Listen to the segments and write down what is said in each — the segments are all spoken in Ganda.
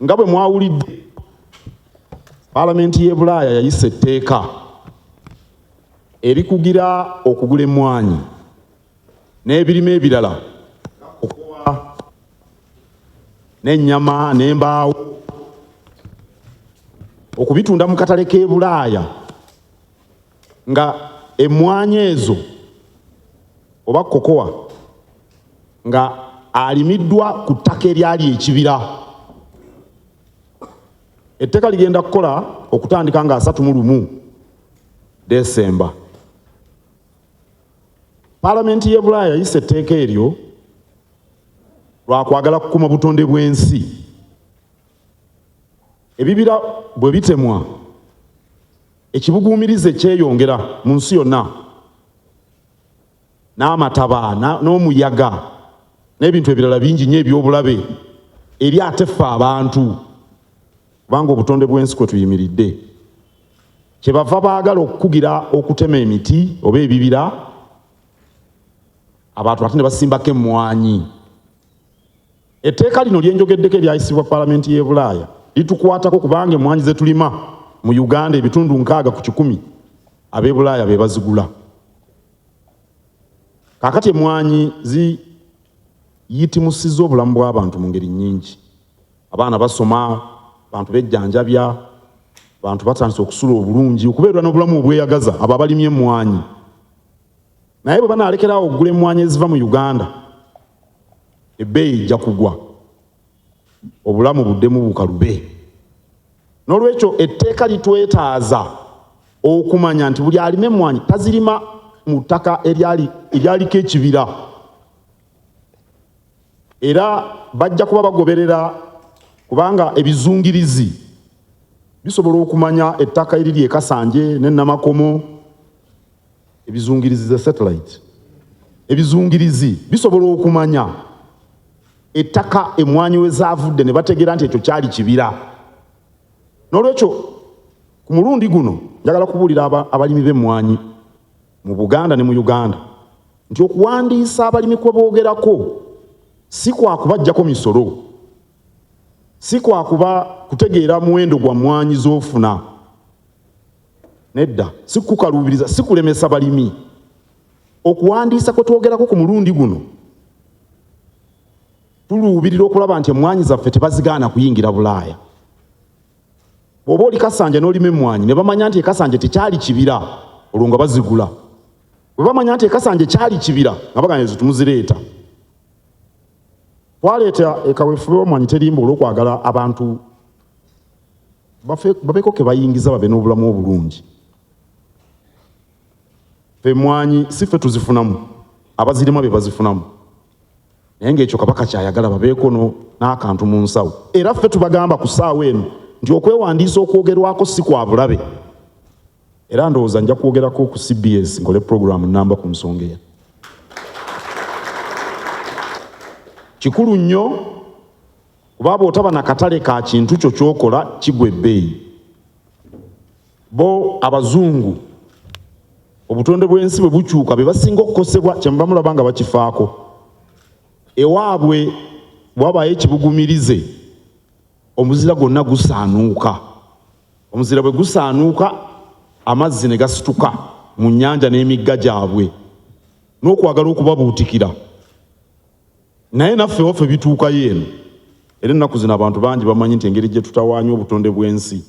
nga bwe mwawulidde palamenti y'e bulaaya yayisa etteeka erikugira okugula emmwaanyi n'ebirime ebirala okuwa n'ennyama n'embaawo okubitunda mu katale k'e bulaaya nga emmwanyi ezo oba kokowa nga alimiddwa ku ttaka eryali ekibira etteeka ligenda kukola okutandika nga asatu mu lumu desemba palamenti y'e bulaaya yayisa etteeka eryo lwakwagala kukuma butonde bw'ensi ebibira bwe bitemwa Ekibuguumirize kyeyongera mu nsi yonna, n'amataba n'omuyaga n'ebintu ebirala bingi nnyo eby'obulabe eri ate ffe abantu, kubanga obutonde bw'ensi kwe tuyimiridde kye bava baagala okukugira okutema emiti oba ebibira abantu ate ne basimbako emmwanyi. Etteeka lino lye njogeddeko eryayisibwa Palamenti y'e Bulaaya litukwatako kubanga emmwanyi ze tulima mu Uganda ebitundu nkaaga ku kikumi ab'e Bulaaya be bazigula. Kaakati emmwanyi ziyitimusizza obulamu bw'abantu mu ngeri nnyingi. Abaana basoma, abantu bejjanjabya, abantu batandise okusula obulungi, okubeerera n'obulamu obweyagaza abo abalima emmwanyi. naye bwe banaalekerawo okugula emmwanyi eziva mu uganda ebbeeyi ejja kugwa obulamu buddemu bukalube n'olwekyo etteeka litwetaaza okumanya nti buli alima emmwanyi tazirima mu ttaka eryaliko ekibira era bajja kuba bagoberera kubanga ebizungirizi bisobola okumanya ettaka eriri ekasanje ne namakomo Ebizungirizi za satellite ebizungirizi bisobola okumanya ettaka emmwanyi we zaavudde ne bategeera nti ekyo kyali kibira. N'olwekyo ku mulundi guno njagala kubuulira abalimi b'emmwanyi mu Buganda ne mu Uganda nti okuwandiisa abalimi kwe boogerako si kwa kubaggyako misolo, si kwa kuba kutegeera muwendo gwa mmwanyi z'ofuna. Nedda, sikukaluubiriza, sikulemesa balimi. Okuwandiisa kwe twogerako ku mulundi guno, tuluubirira okulaba nti emmwanyi zaffe tebazigaana kuyingira Bulaaya. Bw'oba oli Kasanja n'olima emmwanyi ne bamanya nti ekasanja tekyali kibira, olwo nga bazigula. Bwe bamanya nti ekasanja kyali kibira, nga bagana ezo tumuzireeta. Twaleeta ekaweefube w'emmwanyi terimba olw'okwagala abantu babeeko ke bayingiza babe n'obulamu obulungi emwanyi si ffe tuzifunamu abazirima be bazifunamu naye ngaekyo kabaka kyayagala babeeko n'akantu mu nsawo era ffe tubagamba ku ssaawa eno nti okwewandiisa okwogerwako si kwa bulabe era ndowooza nja kwogerako ku cbs nkole puroguramu namba ku nsonga eyo kikulu nnyo kuba bw'otaba na katale ka kintu kyo ky'okola kigwa ebbeeyi bo abazungu obutonde bw'ensi bwe bukyuka be basinga okukosebwa kyemuba mulaba nga bakifaako ewaabwe bwabaayo ekibugumirize omuzira gwonna gusaanuuka omuzira bwe gusaanuuka amazzi ne gasituka mu nnyanja n'emigga gyabwe n'okwagala okubabuutikira naye naffe waffe bituukayo eno era ennaku zino abantu bangi bamanyi nti engeri gye tutawaanya obutonde bw'ensi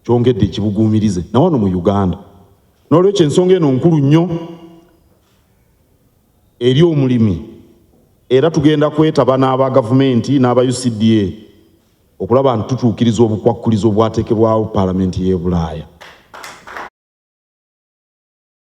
kyongedde ekibuguumirize na wano mu uganda n'olwekyo ensonga eno nkulu nnyo eri omulimi era tugenda kwetaba n'aba gavumenti n'aba ucda okulaba nti tutuukiriza obukwakkulizo obwateekebwawo paalamenti y'e bulaaya